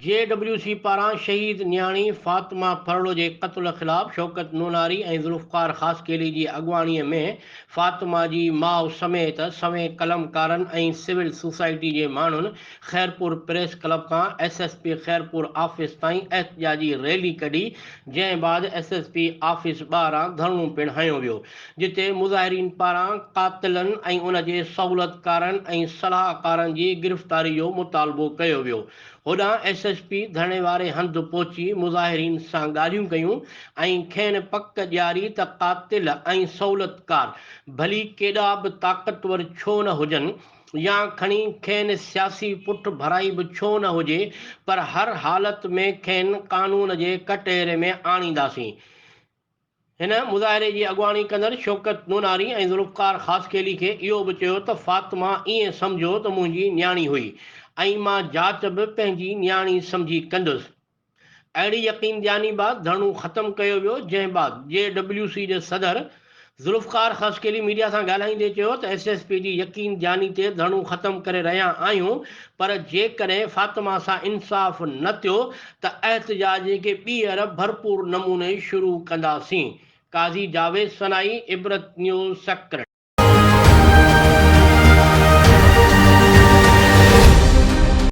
جي W C پاران شهيد نياڻي فاطمه ڦرڙو جي قتل خلاف شوڪت نوناري ۽ ذوالفقار خاصخيلي جي اڳواڻي ۾ فاطمه جي ماء سميت سوين قلمڪارن ۽ سول سوسائٽي جي ماڻهن خيرپور پريس ڪلب کان S S P Khairpur office تائين احتجاجي ريلي ڪڍي جنهن بعد ايس ايس پي آفيس ٻاهران ڌرڻو پڻ هنيو ويو جتي مظاهرين پاران قاتلن ۽ ان جي سهولتڪارن ۽ صلاحڪارن جي گرفتاري جو مطالبو ڪيو ويو. هوڏانهن ايس ايس پي ڌرڻي واري هنڌ پهچي مظاهرين سان ڳالهيون ڪيون ۽ کين پڪ ڏياري ته قاتل ۽ سهولتڪار ڀلي ڪيڏا به طاقتور ڇو نه هجن يا کڻي کين سياسي پٺ ڀرائي به ڇو نه هجي پر هر حالت ۾ کين قانون جي ڪٽهري ۾ آڻينداسين هن مظاهري جي اڳواڻي ڪندڙ شوڪت نوناري ۽ ذوالفقار خاصخيلي کي اهو به چيو ته فاطمه ائين سمجهو ته منهنجي نياڻي هئي ۽ مان جاچ به پنهنجي نياڻي سمجهي ڪندس. اهڙي يقين ڏياني بعد ڌرڻو ختم ڪيو ويو جنهن بعد جي ڊبليو سي جي صدر ذوالفقار خاصخيلي ميڊيا سان ڳالهائيندي چيو ته ايس ايس پي جي يقين جاني تي ڌرڻو ختم ڪري رهيا آهيون پر جيڪڏهن فاطمه سان انصاف نه ٿيو ته احتجاج کي ٻيهر ڀرپور نموني شروع ڪنداسين قاضي جاويد سنائي عبرت نيوز سڪرٽ.